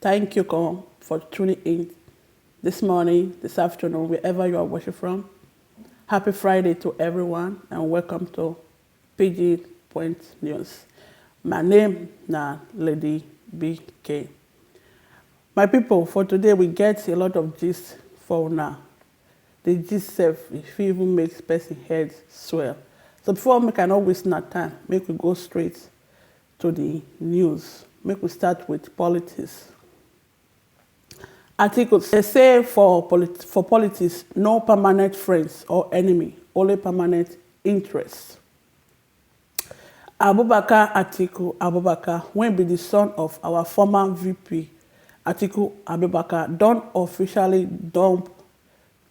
Thank you all for tuning in this morning, this afternoon, wherever you are watching from. Happy Friday to everyone and welcome to PG Point News. My name na Lady BK. My people, for today we get a lot of gist for now. The gist self, if you even makes person head swell. So before make I not waste na time, make we go straight To di news, make we start with politics article dem say for for politics no permanent friends or enemy only permanent interest Abubakar Atiku Abubakar wey be di son of our former VP Atiku Abubakar don officially dump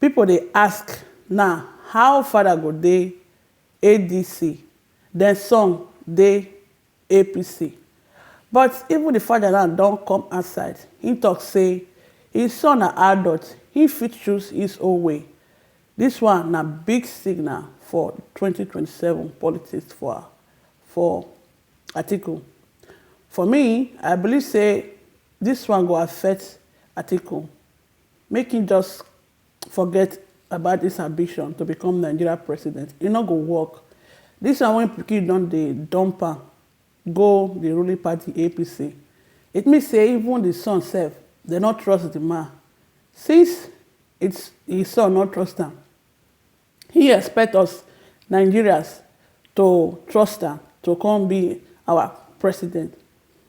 People dey ask now how father go dey ADC then son dey APC but even the father now don come outside he talk say his son na adult he fit choose his own way this one na big signal for twenty twenty seven politics for for Atiku for me I believe say this one go affect Atiku Make him just forget about this ambition to become Nigeria president, e no go work. This one when pikin don dey dump am go the ruling party APC, it means say even the son sef dem no trust the man, since it's his son no trust am, He expect us Nigerians to trust am to come be our president.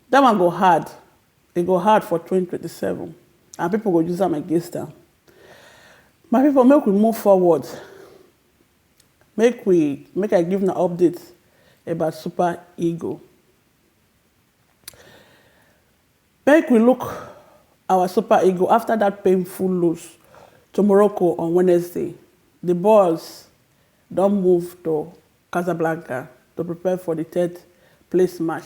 That one go hard, e go hard for twenty twenty seven and people go use am against am. My people make we move forward, make we make I give una update about Super Eagle. Make we look our Super Eagle after that painful lose to Morocco on Wednesday, the Boers don move to Casablanca to prepare for the third place match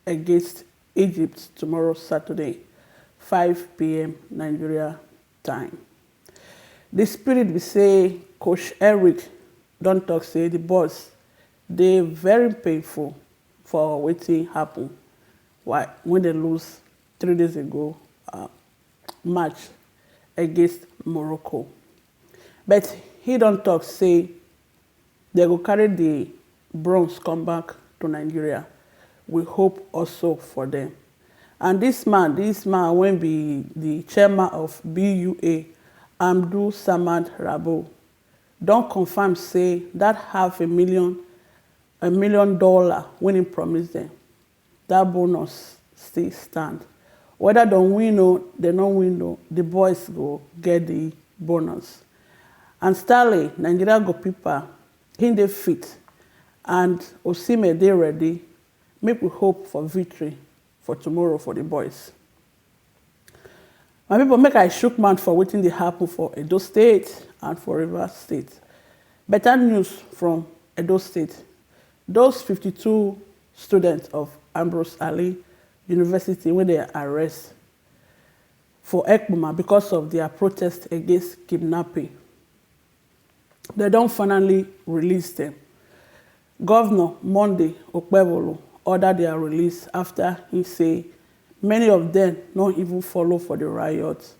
against Egypt tomorrow Saturday, five pm Nigeria time. The spirit be say coach Eric don talk say the Boers dey very painful for wetin happen Why wen dem lose three days ago match against Morocco but he don talk say dem go carry the bronze come back to Nigeria we hope also for dem and this man this man wen be the chairman of BUA Amdu Samad Rabo don confirm say that half a million a million dollar wen he promise dem That bonus still stand. Whether dem win o, dem no win o, the boys go get the bonus. And Stanley, Nigeria goalkeeper, he dey fit and Osimhen dey ready, make we hope for victory for tomorrow for the boys. My people make I shook mouth for wetin dey happen for Edo state and for Rivers state. Better news from Edo state, those fifty two students of Ambrose Ali university wey dem arrest for Ekpoma because of their protest against kidnapping, dem don finally release dem. Govnor Monday Okpebholo order dia release afta he say many of dem no even follow for di riot.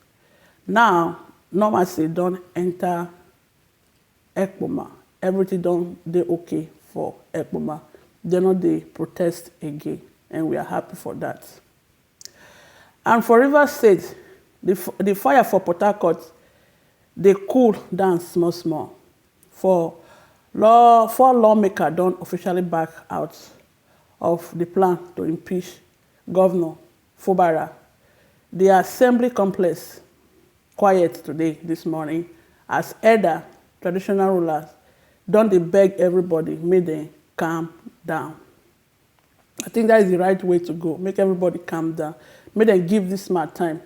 Now normalcy don enta Ekpoma, everything don dey ok for Ekpoma, dem no dey protest again and we are happy for dat. And for Rivers State, di di fire for Port Harcourt dey cool down small small. For law four lawmaker don officially back out of di plan to impeach Govnor Fubara. Di assembly complex quiet today dis morning as elder traditional rulers don dey beg everybody make dem calm down. I think that is the right way to go make everybody calm down make dem give this man time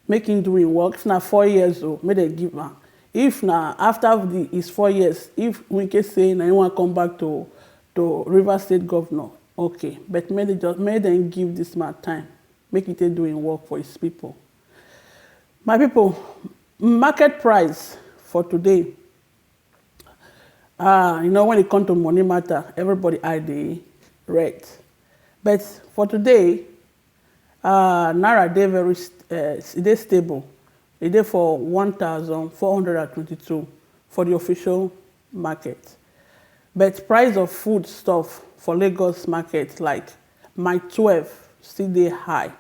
make him do him work if na four years o make dem give am if na after the his four years if Wike say na him wan come back to to River State governor okay but make dem just make dem give this man time make he take do him work for his people my people market price for today Ah, you know, when it comes to money matter, everybody eye dey red. But for today, uh, Naira dey very uh, e dey stable. E dey for 1,422 for the official market. But price of food stuff for Lagos market like my 12 still dey high.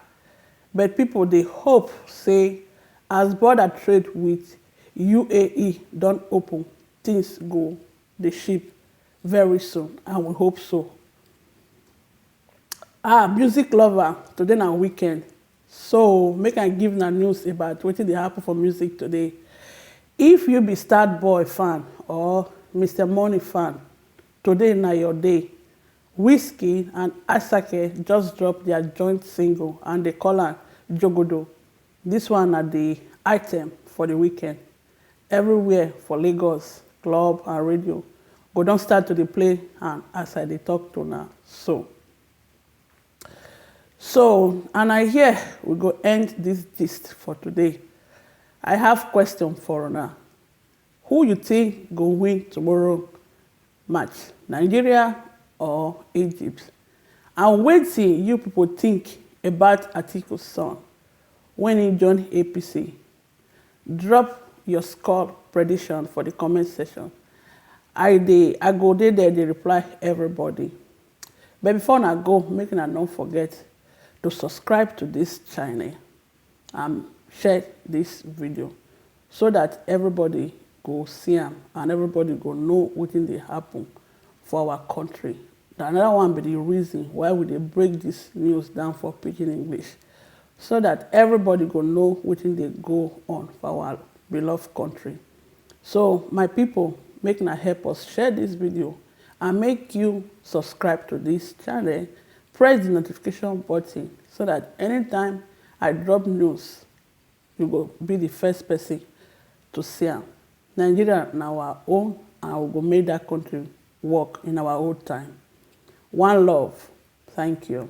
But people dey hope say as border trade with UAE don open, things go dey ship very soon and we hope so. Ahh music lover today na weekend so make I give una news about wetin dey happen for music today. If you be starboy fan or Mister money fan today na your day. Wizkid and Asake just drop their joint single and dey call am Jogodo. This one na the item for the weekend, everywhere for Lagos club and radio go don start to dey play am as I dey talk to una so. So and na here we go end this gist for today, I have question for una, who you think go win tomorrow match Nigeria or Egypt and wetin you pipo tink about Atiku son wen im join APC? Drop your score prediction for di comment section I dey I go dey there dey reply everybody but before una go make una no forget to subscribe to dis channel. and share this video so that everybody go see am and everybody go know wetin dey happen for our country na another one be the reason why we dey break this news down for pidgin english so that everybody go know wetin dey go on for our beloved country So my people make na help us share this video and make you subscribe to this channel press the notification button so that anytime I drop news you go be the first person to see am Nigeria na our own and we go make that country work in our old time one love thank you.